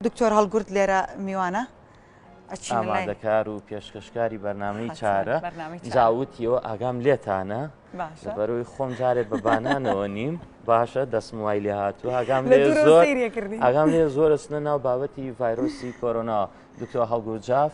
دکتۆر هەڵگورد لێرە میوانە ئامادەکار و پێشکەشکاری بەرنمەی چارە جاوتیەوە ئاگام لێتانە بەرەوەی خۆم جارێ بە بانانەوە نیم باشە دەستم وای لێ هاتوو ئاگام لێ زۆر ئاگام لێ زۆرە سنە ناو بابەتی ڤایرۆسی کۆرۆنا دکتۆ هەڵگورجاف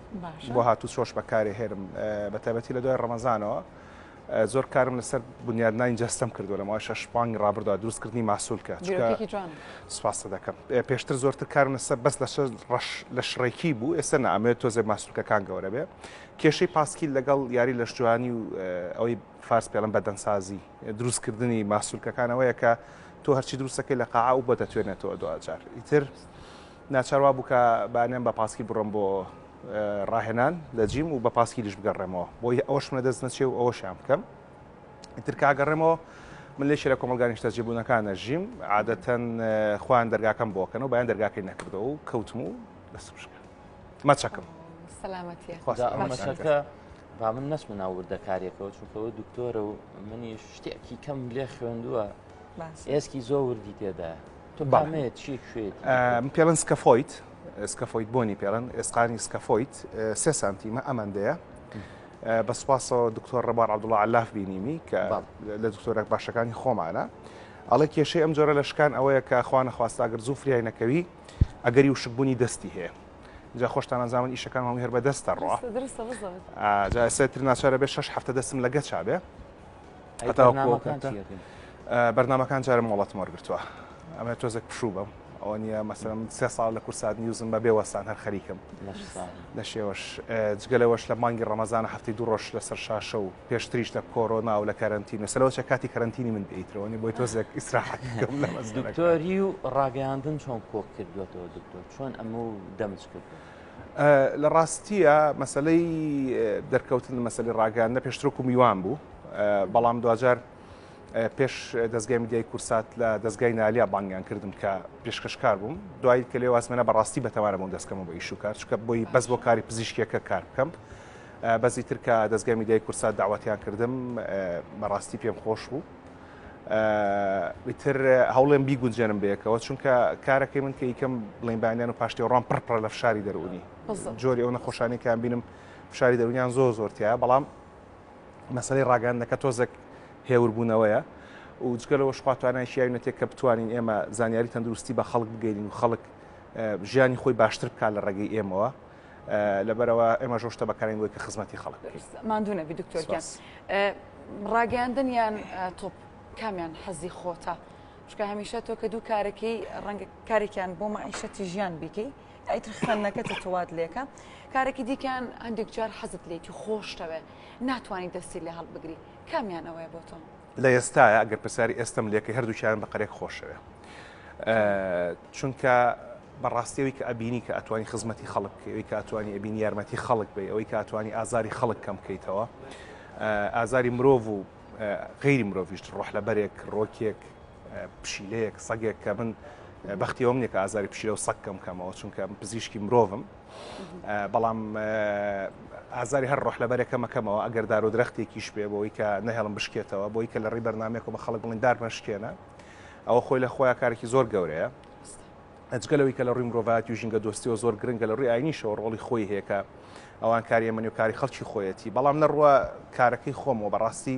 بۆ هاتو چۆش بەکارێ هێرم بەتابەتی لە دوای ڕەمەزانەوە زۆر کارم لەسەر بنیادنانی جەستەم کردو لەمەوە شش پانگ ڕابردا دروستکردنی ماسولکە سوپاستە دەکەم پێشتر زۆرتر کارم لەسەر بەس لە ڕەش لە شڕێکی بوو ئێستا نامێت تۆزێ ماسولکەکان گەورە بێ کێشەی پاسکیل لەگەڵ یاری لەش جوانی و ئەوەی فارس پێڵم بەدەنسازی دروستکردنی ماسولکەکانەوەیە کە تۆ هەرچی دروستەکەی لە قاعە و بەدەتوێنێتەوە دوجار ئیتر ناچار وابوو کە بانەم بە پاسکیل بڕۆم بۆ ڕاهێنان لە جیم و بە پاسکیلیش بگەڕێمەوە بۆی ئەوەشم لە دەست نەچێ و ئەوەشیان بکەم ئیتر کاگەڕێمەوە من لێکی لە کۆمەلگا نیشتەجێبوونەکانە ژیم عادەتەن خۆیان دەرگاکەم بۆکەن و بەیان دەرگاکەی نەکردەوە و کەوتم و دەست بشکە مەچەکەم سەلامەتە با من نەچمە ناو وردەکاریەکەەوە چونکەەوە دکتۆرە و منی شتێکی کەم لێ خوێندووە ئێسکی زۆر وردی تێدا پێڵن سکەفۆیت سکەفۆیت بۆنی پێڵن ئێسقانی سکەفۆیت سێ سانتیمە ئەمەندەیە بە سوپاسەوە دکتۆر ڕەبار عبدوڵا لاف بینیمی کە لە دکتۆرە باشەکانی خۆمانە ئەڵێ کێشەی ئەم جۆرە لە شکان ئەوەیە کە خوانە خواستاگر زوو فریای نەکەوی ئەگەری و شکبوونی دەستی هەیە جا خۆشتان ئەزانن ئیشەکان هەموو هەر بەدەستە ڕۆ جا سێتر ناچارە بێت شش هەفتە دەستم لەگە چابێ بەرنمەکان جارم مۆڵەت مۆرگتووە ئەمە تۆزێک پشوو بم ئەوە نیە مەسەرم سێ ساڵ لە کورسات نیوزم بە بێوەستان هەر خەریکم لە شێوەش جگەلەوەش لە مانگی ڕەمەزان هەفتی دوو ڕۆژ لەسەر شاشە و پێشتریش لە کۆرۆنا و لە کارنتین و سەرەوەچە کاتی کارنتینی من بیترەوەنی بۆی تۆزێک ئیسراحەتۆری و ڕاگەیاندن چۆن کۆک کردوێتەوە دکتۆر چۆن ئەمە و دەمج کرد لە ڕاستیە مەسلەی دەرکەوتن لە مەسلی ڕاگەاندنە پێشترۆکو میوان بوو بەڵام دواجار پێش دەستگای میدیای کورسات لە دەستگای نالیا بانگیان کردم کە پێشکەشکار بووم دوایی کە لێ وازمێنە بەڕاستی بەتەوارە بۆم دەستکەمە بە ئیشوکار چکە بۆی بەس بۆ کاری پزیشکیەکە کار بکەم بەزی ترکە دەستگای میدیای کورسات داواتیان کردم بەڕاستی پێم خۆش بوو ئیتر هەوڵێم بیگونجێنم بەیەکەوە چونکە کارەکەی من کە یکەم بڵین بەیانیان و پاشتێوڕان پڕپڕە لە فشاری دەرونی جۆری ئەو نەخۆشانی کان بینم فشاری دەرونیان زۆر زۆرتیە بەڵام مەسلەی ڕاگەاندەکە تۆزێک هێوربوونەوەیە و جگە لەوە شخواتوانیان شیاوینەتێک کە بتوانین ئێمە زانیاری تەندروستی بە خەڵک بگەین و خەڵک ژیانی خۆی باشتر بکات لە ڕێگەی ئێمەوە لەبەرەوە ئێمە ژۆ شتە بەکارین بۆی کە خزمەتی خەڵک مادونە دکتۆرگیان ڕاگەاندن یان تۆپ کامیان حەزی خۆتە شکە هەمیشە تۆ کە دوو کارەکەی ڕەنگە کارێکیان بۆ مەعیشەتی ژیان بیکەی ئەیتر خوێندنەکە تەتەوات لێکە کارێکی دیکەیان هەندێک جار حەزت لێتی خۆشتەوێ ناتوانانی دەستی لە هەڵبگری کامیانەوەی بۆ تۆ لە ئێستایە ئەگەر پرسیاری ئێستم لێکەی هەردووکیان بە قەرێک خۆشەوێ چونکە بەڕاستیەوەی کە ئەبینی کە ئەتوانی خزمەتی خەڵک ئەوی کە ئەتوانی ئەبینی یارمەتی خەڵک بی ئەوەی کە ئەتوانی ئازاری خەڵک کەم بکەیتەوە ئازاری مرۆڤ و غیری مرۆڤیشت ڕۆح لە بەرێک ڕۆکێک پشیلەیەک سەگێک کە من بەختیەوەم نیە کە ئازاری پشیلە و سەکەم کەمەوە چونکە پزیشکی مرۆڤم بەڵام ئازاری هەر ڕۆح لەبەرێکە مەکەمەوە ئەگەر دار و درەختێکیش بێ بۆی کە نەهێڵم بشکێتەوە بۆی کە لە ڕی بەرنمێکەوە بە خەڵک بڵین دار مەشکێنە ئەوە خۆی لە خۆیان کارێکی زۆر گەورەیە ئەجگەلەوەی کە لە ڕووی مرۆڤات و ژینگە دۆستیەوە زۆر گرنگە لە ڕووی ئاینیشەوە ڕۆڵی خۆی هەیەکە ئەوان کاریە منی و کاری خەڵکی خۆیەتی بەڵام نەڕوە کارەکەی خۆمەوە بەڕاستی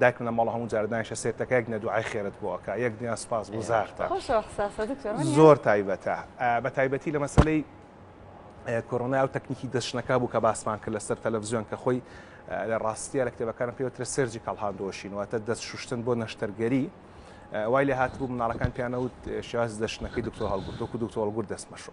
دایکم لە ماڵە هەموو جارە دانیشە سێرتەکە یەک دنە دوعای خێرت بۆ ئەکا یەک دنیا سوپاس گوزارتە زۆر تایبەتە بە تایبەتی لە مەسلەی کۆرۆنا و تەکنیکی دەشنەکە بوو کە باسمان کرد لەسەر تەلەڤزیۆن کە خۆی لە ڕاستیە لە کتێبەکان پێوترە سەرجی کاڵهاندۆشین واتە دەست شوشتن بۆ نەشتەرگەری وای لە هاتبوو مناڵەکان پیانەوت شاز دەشتنەکەی دکتۆر هەڵگرتۆک و دکتۆر هەڵگر دەستمەشۆ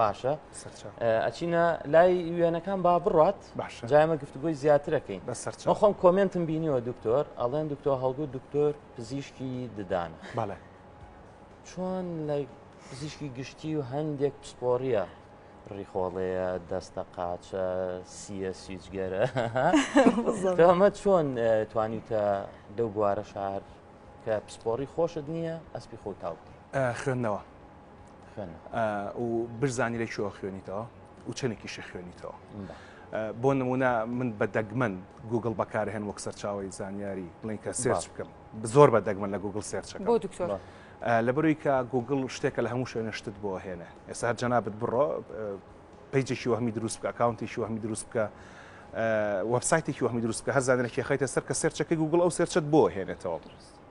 باشە ئەچینە لای وێنەکان با بڕات جایمە گفتگوی زیاترەکەین بەسەرچە خۆم کۆمنتم بینیوە دکتۆر ئەڵێن دکتۆر هەڵگو دکتۆر پزیشکی ددانە بەڵێ چۆن لە پزیشکی گشتی و هەندێک پسپۆریە ڕیخۆڵەیە دەستە قاچە سیە سیجگەرە ئەمە چۆن توانیتە لەو بوارە شار کە پسپۆری خۆشت نییە ئەسپی خۆ تاوتی خوێندنەوە و برزانی لە کوێوە خوێنیتەوە و چەندێکیشی خوێنیتەوە بۆ نمونە من بە دەگمەن گوگل بەکارهێن وەک سەرچاوی زانیاری بڵین کە سێرچ بکەم زۆر بە دەگمەن لە گوگل سێرچەکە بۆ دکتۆر لە بەروی کە گوگل شتێکە لە هەموو شوێنە شتت بۆ هێنێ ئێستا هەر جەنابەت بڕۆ پیجێکی وەهمی دروست بکە ئەکاونتێکی وەهمی دروست بکە وەبسایتێکی وەهمی دروست بکە هەر زانێکی خیتە سەر کە سێرچەکەی گوگل ئەو سێرچەت بۆ هێنێتەوە دروست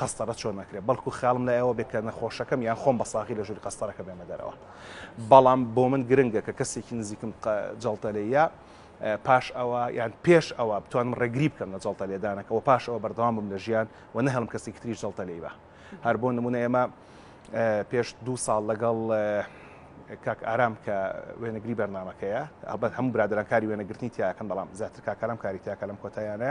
قەستەرە چۆن نەکرێت بەڵکو خەیاڵم لای ئەوە بێت کە نەخۆشەکەم یان خۆم بە ساغی لە ژووری قەستەرەکە بێمە دەرەوە بەڵام بۆ من گرنگە کە کەسێکی نزیکم جەڵتە لێیە پاش ئەوە یان پێش ئەوە بتوانم ڕێگری بکەم لە جەڵتە لێدانەکە و پاش ئەوە بەردەوام بم لە ژیان و نەهڵم کەسێکی تری جەڵتە لێی بە هەر بۆ نمونە ئێمە پێش دو ساڵ لەگەڵ کاک ئارام کە وێنەگری بەرنمەکەیە ئەبەت هەموو برادرانکاری وێنەگرتنی تیاکەن بەڵام زیاتر کاکارم کاری تیاکە لەم کۆتایانە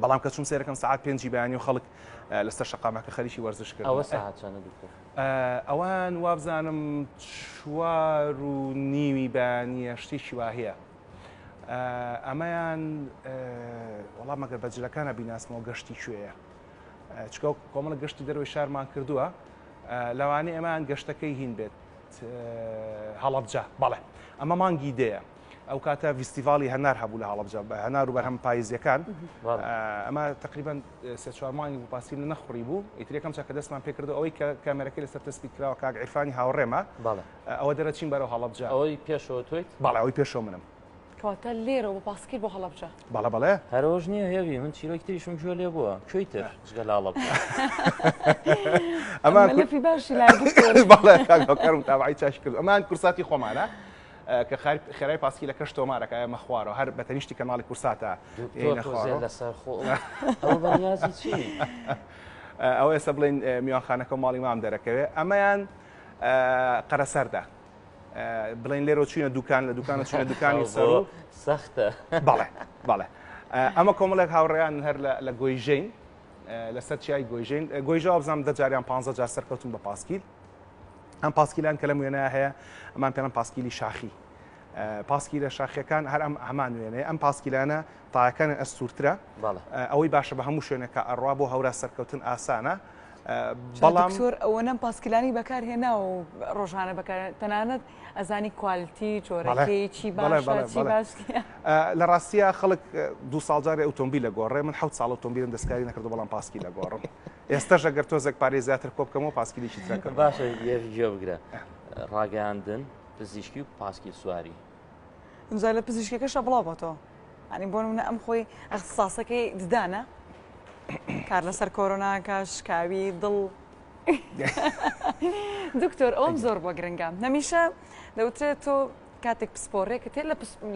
بەڵام کە چوم سێرەکەم سعات پێنجی بەیانی و خەڵک لەسەر شقامەکە خەریکی وەرزش کرد ئەوە ساعت چەندە دکتۆر ئەوان وابزانم چوار و نیوی بەیانیە شتێکی واهەیە ئەمەیان وەڵام مەگەر بەجلەکانە بیناسمەوە گەشتی کوێیە چکە کۆمەڵە گەشتی دەروی شارمان کردووە لەوانەیە ئەمان گەشتەکەی هین بێت هەڵەبجە بەڵێ ئەمە مانگی دەیە ئەو کاتە ڤستیڤالی هەنار هەبوو لە هەڵبجە بە هەنار و بەرهەم پایزیەکان ئەمە تقریبان سێ چوارمانی و پاسی لە نەخڕی بوو ئیترەکەم چاکە دەستمان پێکردو ئەوەی کە کامێرەکەی لەسەر تەسبی کراوە کاک عرفانی هاوڕێمە ئەوە دەرەچین بەرەوە هەڵبجە ئەوەی پێشەوە تویت باڵ ئەوەی پێشۆ منم کەواتە لێرە بە پاسکیل بۆ هەڵبجە بەڵە بەڵێ هەرۆژ نییە هێوی من چیرۆکی تریشم گوێ لێ بووە کوێی تر جگە لاڵە ئەمە باشی لا بەڵێ کاکەکەم تاوای چاش کرد ئەمان کورساتی خۆمانە کە خێرای پاسکیلەکەش تۆمارەکە ئەمە خوارەوە هەر بە تەنیشتی کەناڵی کورساتە لەسەر خۆ ئەو ئێستا بڵێن میوانخانەکە و ماڵی مام دەرەکەوێت ئەمەیان قەرەسەردا بڵێن لێرە چوینە دوکان لە دوکان چوینە دوکانی سەر سەختە بەڵێ بەڵێ ئەمە کۆمەڵێک هاوڕێیان هەر لە گۆیژین لەسەر چیای گۆیژین گۆیژە بزانام دەجاریان پ جار سەرکەوتن بە پاسکیل ئەم پاسکیلان کە لەم وێنە هەیە ئەمان پێڵم پاسکیلی شاخی پاسکیلە شاخیەکان هەر ئەم هەمان وێنەیە ئەم پاسکیلانە تاکانە ئەستورترە ئەوەی باشە بە هەموو شوێنەکە ئەڕوا بۆ هەورا سەرکەوتن ئاسانە بەڵام زۆر ئەوە نەم پاسکیلانی بەکار هێناوە و ڕۆژانە بەکار تەنانەت ئەزانی کوالتی جۆرەکەی چی لە ڕاستیە خەڵک دو ساڵجاری ئۆتۆمبیل لە گۆڕێ من حوت ساڵ ئۆتۆمبیلم دەستکاری نەکردو بەڵام پاسکی لە گۆڕم ئێستەش ئەگەر تۆزێک پارەی زیاتر کۆ بکەمەوە پاسکیلێکی ترەکە باشە یەک گوێ بگرە ڕاگەاندن پزیشکی و پاسکیل سواری ئەمزای لە پزیشکەکەشە بڵاو بۆتەوە ئەنی بۆ منە ئەم خۆی ئەخساسەکەی ددانە کار لەسەر کۆرۆناکە شکاوی دڵ دکتۆر ئەوم زۆر بۆ گرنگە نەمیشە دەوترێت تۆ کاتێک پسپۆڕێکە تێ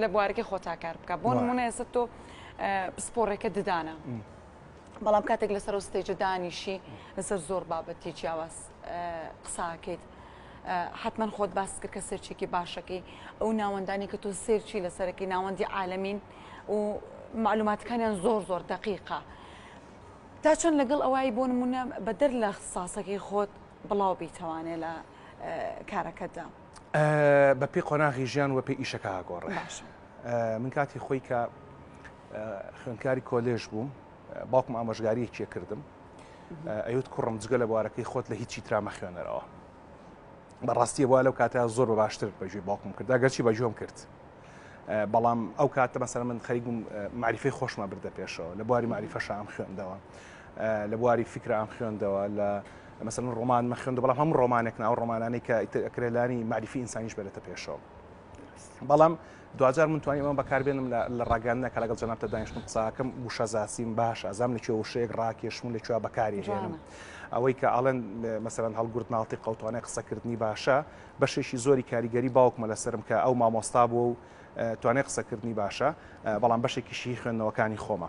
لە بوارەکە خۆتاکار بکە بۆ نمونە ئێستا تۆ پسپۆڕێکە ددانە بەڵام کاتێک لەسەر ستێجە دانیشی لەسەر زۆر بابەتی جیاواز قساکەیت حتمما خۆت باس کرد کە سێرچێکی باشەکەی ئەو ناوەندانی کە تۆ سێرچی لەسەرەکەی ناوەندی عالمین و معلوماتەکانیان زۆر زۆر دقیقا تا چەند لەگەڵ ئەوەی بۆ نمونە بەدەر لە ساسەکەی خۆت بڵاو بیتەوانێ لە کارەکەدا بەپی قۆناغی ژیان وەپی ئیشەکە گۆڕێ من کاتی خۆی کە خوێندکاری کۆلێژ بووم باوکم ئامۆژگاریەکیە کردم ئەوت کوڕم جگە لە بوارەکەی خۆت لە هیچی ترامە خوێنەرەوە بەڕاستیە بووە لەو کاتە زۆر بە باشتر بەژێ باوکم کرد گەرچی بەجۆم کرد بەڵام ئەو کاتە مەسەر من خەریگوم معریفی خۆشمە بردە پێشەوە لە بواری معریفە شام خوێندەوە لە بواری فکرام خوێندەوە لە مەسەن ڕۆمان مە خوێندە بەڵام هەم ڕۆمانێک ناو ڕۆمانانێک کە ئەکرێلانی معریفی ئینسانیش بێتە پێشەوە بەڵام دواجار من توانی ئەمە بەکاربێنم لە ڕاگەاندنە کە لەگەڵ جەنابتە دانیشتم قساکەم وشە زاسیم باش ئازام لە کوێ وشەیەک ڕاکێشم لە کوێ بەکاری هێنم ئەوەی کە ئاڵێن مەسەرەن هەڵگرت ناڵتی قوتوانای قسەکردنی باشە بەشێکی زۆری کاریگەری باوکمە لەسرم کە ئەو مامۆستا بووە و توانای قسەکردنی باشە بەڵام بەشێکیشی خوێندنەوەکانی خۆمە.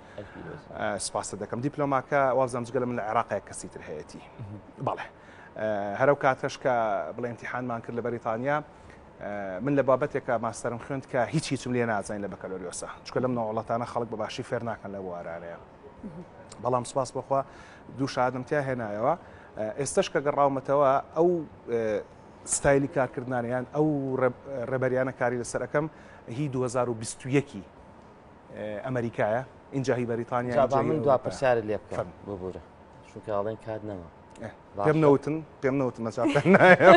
سپاست دەکەم دیپلۆماکە وازم جگە لە من لە عێراقەیە کەسی تر هەیەی بەڵێ هەرو کاتەش کە بڵێ امتحانمان کرد لە بەریتانیا من لە بابەتێکە ماستەرم خوێند کە هیچ هیچم لێ نازانین لە بەکەلۆریۆسە چکە لەم ناوڵەتانە خەڵک بە باشی فێر ناکەن لە بوارانەیە بەڵام سپاس بخوا دوو شادم تیا هێنایەوە ئێستش کە گەڕاومەتەوە ئەو ستایلی کارکردانیان ئەو ڕێبەریانە کاری لەسەرەکەم هی 2021 ئەمەریکایە اینجا هی بەریتانیا جا با من دوا پرسیارت لێ بکەم فەرموو. ببوورە چونکە ئەڵێن کات نەما پێم نەوتن پێم نەوتن مەجال پێم نایە.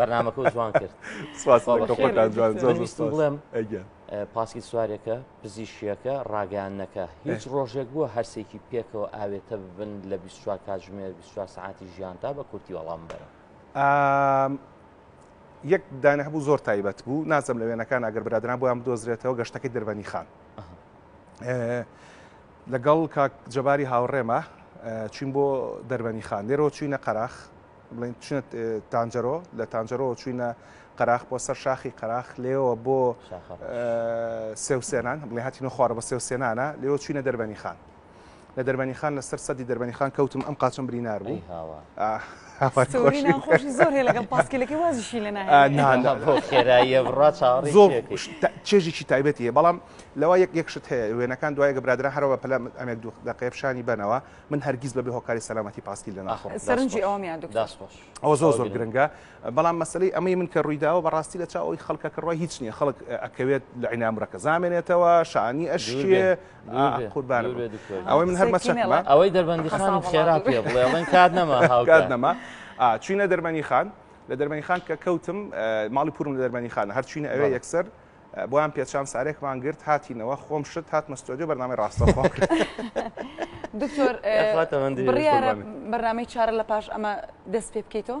بەرنامەکە و جوان کرد سوپاس خۆ بەخێر خۆتان بێن. جوان زۆر زۆر ویستم سوپاس. بڵێم ئەگیان. ئە، پاسکیل سوارێکە پزیشکیەکە ڕاگەیاندنەکە هیچ ڕۆژێک بووە هەرسێکی پێکەوە ئاوێتە ببن لە 24 کاتژمێر 24 سەعاتی ژیاندا بە کورتی وەڵام بەرەوە ئام، یەک دانە هەبوو زۆر تایبەت بوو نازم لە وێنەکان ئەگەر برادران بۆیان بدۆزرێتەوە گەشتەکەی دربەنی خان لەگەڵ کاک جەباری هاوڕێمە چین بۆ دەربەنی خان لێرەوە چوینە قەراخ بڵێن چینە تانجەرۆ لە تانجەرۆ چوینە قەراخ بۆ سەر شاخی قەراخ لێەوە بۆ سێوسێنان بڵێ هاتینە خوارە بە سێوسێنانە لێەوە چوینە دەربەنی خان لە دەربەنیخان لەسەر سەدی دەربەنیخان کەوتم ئەم قاچم برینار بوو چێژێکی تایبەتی هەیە بەڵام لەوە یەک یەکشت هەیە وێنەکان دوای گەبرادرا هەرەوە پلە ئەمێک دوو دقێ پیششانی بنەوە من هەرگیز بەبێ هۆکاری سەلامەتی پاسکیل لە ناخۆ سەرنجی ئەومیان ئەو زۆر زۆر گرنگە بەڵام مەسلەی ئەمەی من کە ڕوویداوە بەڕاستی لە چاوەی خەڵکە کڕوای هیچ نییە خەڵک ئەکەوێت لە عینامرەکە زامێنێتەوە شانی ئەشێ ئەوەی من هەرمەچەمە ئەوەی دەربەندی خان خێرا پێ بڵێ بڵێن کات نەما هاوکات نەما چینە دەربەنی خان لە دەربەنی خان کە کەوتم ماڵی پورم لە دەربەنی خانە هەرچینە ئەوێ یەکسەر بۆیان پێچان سارێکمان گرت هاتینەوە خۆم شت هات مەستۆدیو بەنامەی ڕاستە خۆم کرد دکتۆر بڕیارە بەرنامەی چارە لە پاش ئەمە دەست پێ بکەیتەوە